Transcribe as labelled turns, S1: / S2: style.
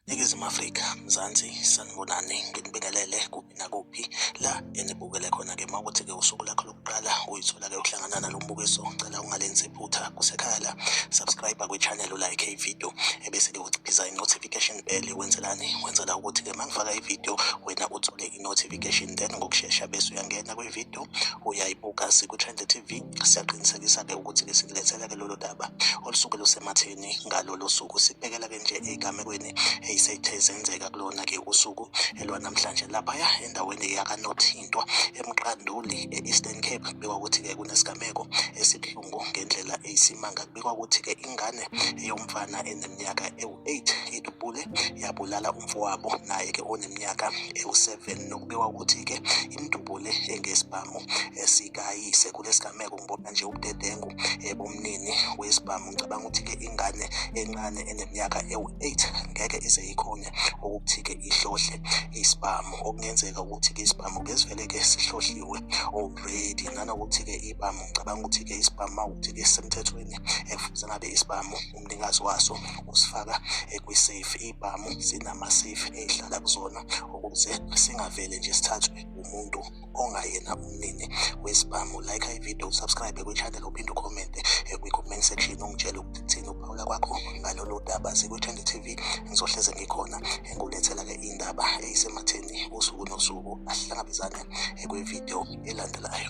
S1: Ningizimu Afrika, Mzansi, sanibonani, nginibingelele kuphi nakuphi la enibukele khona-ke uma ukuthi-ke usuku lakho lokuqala uyithola-ke ukuhlangana nalo mbukiso ngicela ungalenzi iphutha kusekhaya la subscribe kwi-channel ulike ividiyo ebese-ke uciphiza i-notification Eli wenzelani wenzela ukuthi ke mangifaka ivideo wena uthole i-notification then ngokushesha bese uyangena kwivideo uyayibuka siku-trend tv siyaqinisekisa ke ukuthi ke sikulethela ke lolo daba olusuke lusematheni ngalolo suku sibhekela ke nje ey'gamekweni ey'sethe zenzeka kulona ke usuku elwanamhlanje laphaya endaweni yakanothintwa emqanduli e-eastern cape kubikwa ukuthi ke kunesigameko esibuhlungu ngendlela eyisimanga kubikwa ukuthi ke ingane yomfana eneminyaka ewu 8 idubule yabulala umfowabo naye ke oneminyaka ewu-7 nokubikwa ukuthi ke imdubule engesibhamu esikayise kulesigameko ngibona nje ubudedengu ebumnini wesibhamu ngicabanga ukuthi ke ingane encane eneminyaka ewu-8 ngeke ize ikhone ukuthi ke ihlohle isibhamu okungenzeka ukuthi ke isibhamu ke sivele ke sihlohliwe already nanokuthi ke ibhamu ngicabanga ukuthi ke isibhamu mawukuthi ke semthethweni ekufuze ngabe isibhamu umnikazi waso usifaka kwi-safe iy'bhamu zinama-safe ey'hlala kuzona ukuze singavele nje sithathwe umuntu ongayena umnini wesibhamu like ividiyo usubscribe kwi-channel uphinde ukhomente eh, kwi-comment section ungitshele ukuthi kuthini ukuphawula kwakho ngalolu daba sikwi-trend tv ngizohleze ngikhona engulethela-ke eh, indaba eyisematheni eh, usuku nosuku asihlangabezane kwividiyo elandelayo